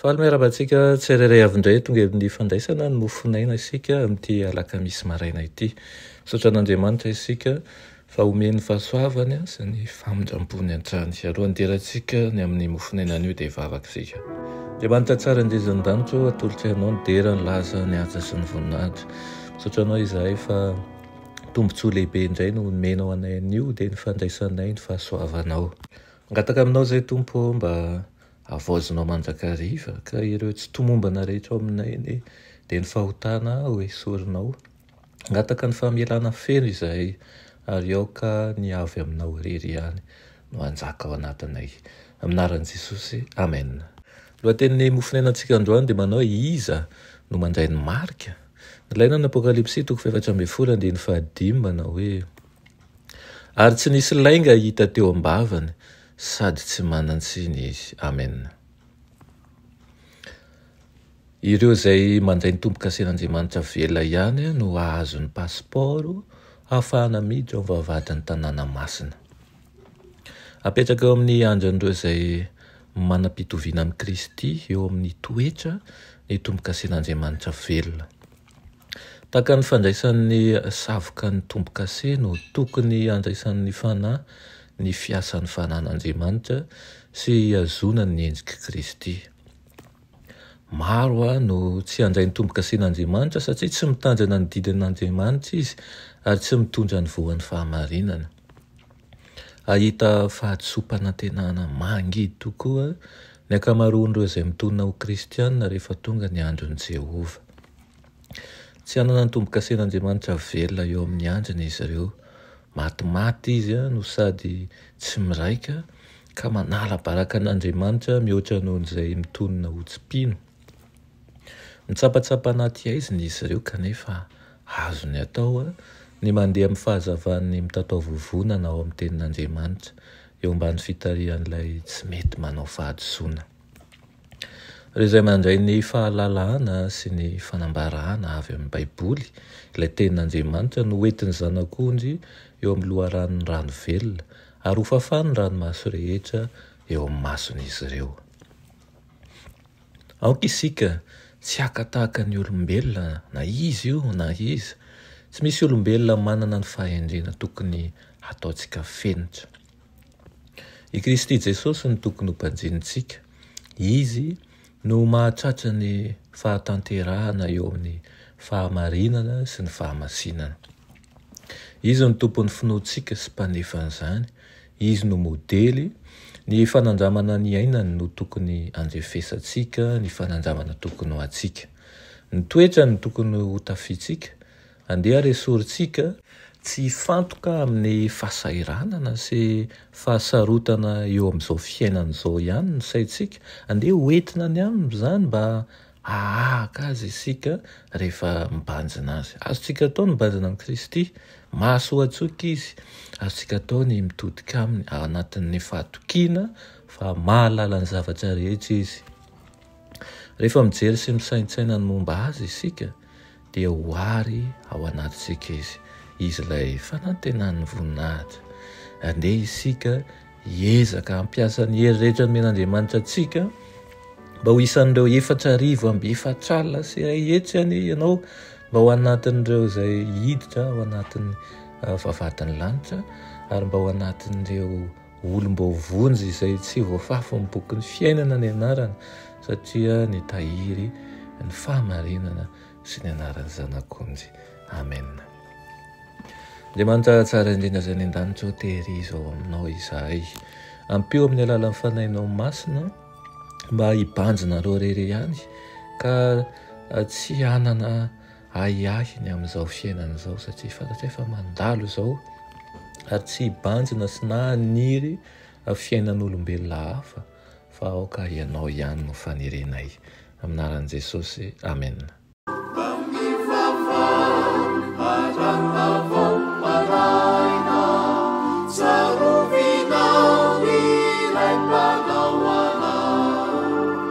Faly miarahaba antsika tsirairay avy indray tonga amin'ny fandraisana ny mofon'aina isika amin'ity alakamisy maraina ity. Misaotra an'Andriamanitra isika fa omeny fahasoavany sy ny famindrampony hatrany. Alohan'ny hiderantsika ny amin'ny mofon'aina anio dia hivavaka isika. Andriamanitra tsara indrindra ny danitra o, atolotro ianao ny dera, ny laza, ny haja sy ny voninahitra. Misaotra anao izahay fa tombontsoa lehibe indray no omenao anay anio dia ny fandraisanay ny fahasoavanao. Mangataka aminao izay Tompo o mba Havaozinao mandrakariva ka ireo tsy tomombana rehetra ao aminay anie dia ny fahotana ho esorinao. Hangataka ny famelana feno izahay ary aoka ny avy aminao irery ihany no hanjaka ao anatinay. Amin'ny anaran'i Jesosy, amena. Ny lohatenin'ny mofon'ainantsika androany dia manao hoe Iza no mandray ny marika? Nilaina ny Apokalypsy toko fahefatra ambin'ny folo andininy fahadimy manao hoe Ary tsy nisy lainga hita teo am-bavany, Sady tsy manan-tsiny izy. Amen. Ireo izay mandray ny tombo-kasen'Andriamanitra avela ihany no hahazo ny pasipaoro hahafahana miditra ao amin'ny vavahadin'ny tanàna masina. Apetraka eo amin'ny andrin'ireo izay manam-pitoviana amin'i Kristy eo amin'ny toetra ny tombo-kasen'Andriamanitra velona. Tahaka ny fandraisan'ny savoka ny tombo-kase no tokony handraisan'ny fanahy ny fiasan'ny fanan'Andriamanitra sy hihazonany ny endrik'i Kristy. Maro no tsy handray ny tombo-kasen'Andriamanitra satria tsy mitandrina ny didin'Andriamanitra izy ary tsy mitondra ny voan'ny fahamarinana. Hahita fahadisoam-panantenana mangidy tokoa ny ankamaroan'ireo izay mitonona ho Kristianina rehefa tonga ny andron'i Jehovah. Tsy hanana ny tombo-kasen'Andriamanitra velona eo amin'ny andriny izy ireo. Matimaty izy no sady tsy miraika, ka manala baraka an'Andriamanitra mihoatra noho izay mitonona ho tsy mpino. Mitsapatsapa anaty haizina izy ireo kanefa azony atao ny mandeha amin'ny fahazavan'ny mitataovovonana ao amin'ny Tenin'Andriamanitra, eo ambany fitarihan'Ilay tsy mety manao fahadisoana. Ireo izay mandray ny fahalalana sy ny fanambarana avy amin'ny Baiboly, Ilay Tenin'Andriamanitra, no hoentin'ny Zanak'ondry eo amin'ny loharanon'ny rano velona, ary hofafany ny ranomaso rehetra eo amin'ny mason'izy ireo. Aoka isika tsy haka tahaka ny olombelona na iza io na iza. Tsy misy olombelona manana ny fahendrena tokony hataontsika fenitra. I Kristy Jesosy no tokony ho banjinintsika. Izy no mahatratra ny fahatanterahana eo amin'ny fahamarinana sy ny fahamasinana. Izy no Tompon'ny finoantsika sy Mpanefan'izany. Izy no modely. Ny fanandramana niainany no tokony handrefesantsika, ny fanandramana tokony ho antsika. Ny toetrany no tokony hotafiantsika. Andeha ary esorintsika. Tsy hifantoka amin'ny fahasahiranana sy fahasarotana eo amin'izao fiainana izao ihany ny saintsika. Andeha hoentina any Aminy izany mba Hahahaka azy isika rehefa mibanjina azy. Azontsika atao ny mibanjina amin'i Kristy. Mahasoa an-tsoika izy. Azontsika atao ny mitodika aminy ao anatin'ny fahatokiana fa mahalala ny zavatra rehetra izy. Rehefa mijery sy misaintsaina ny momba azy isika, dia ho àry ao anatintsika izy, izy ilay fanantenan'ny voninahitra. Andeha isika hiezaka hampiasa ny hery rehetra nomen'Andriamanitra antsika mba ho isan'ireo efatra arivo amby efatr'alina sy iray hetsy anie ianao mba ho anatin'ireo izay hiditra ao anatin'ny ah, vavahadin'ny lanitra ary mba ho anatin'ireo olom-baovonjy izay tsy voafafin'ny bokin'ny fiainana ny anarany satria nitahiry ny fahamarinana sy ny anaran'ny Zanak'onjy. Amena. Andriamanitra tsara indrindra izay any an-danitra ô, tehirizao aminao izahay. Ampio amin'ny alalan'ny fanahinao masina mba hibanjinareo irery ihany ka tsy hanana ahiahy ny amin'izao fiainana izao satria fantatray fa mandalo izao ary tsy hibanjina sy na haniry fiainan'olombelona hafa fa aoka ianao ihany no fanirinay amin'anaran'i Jesosy amena.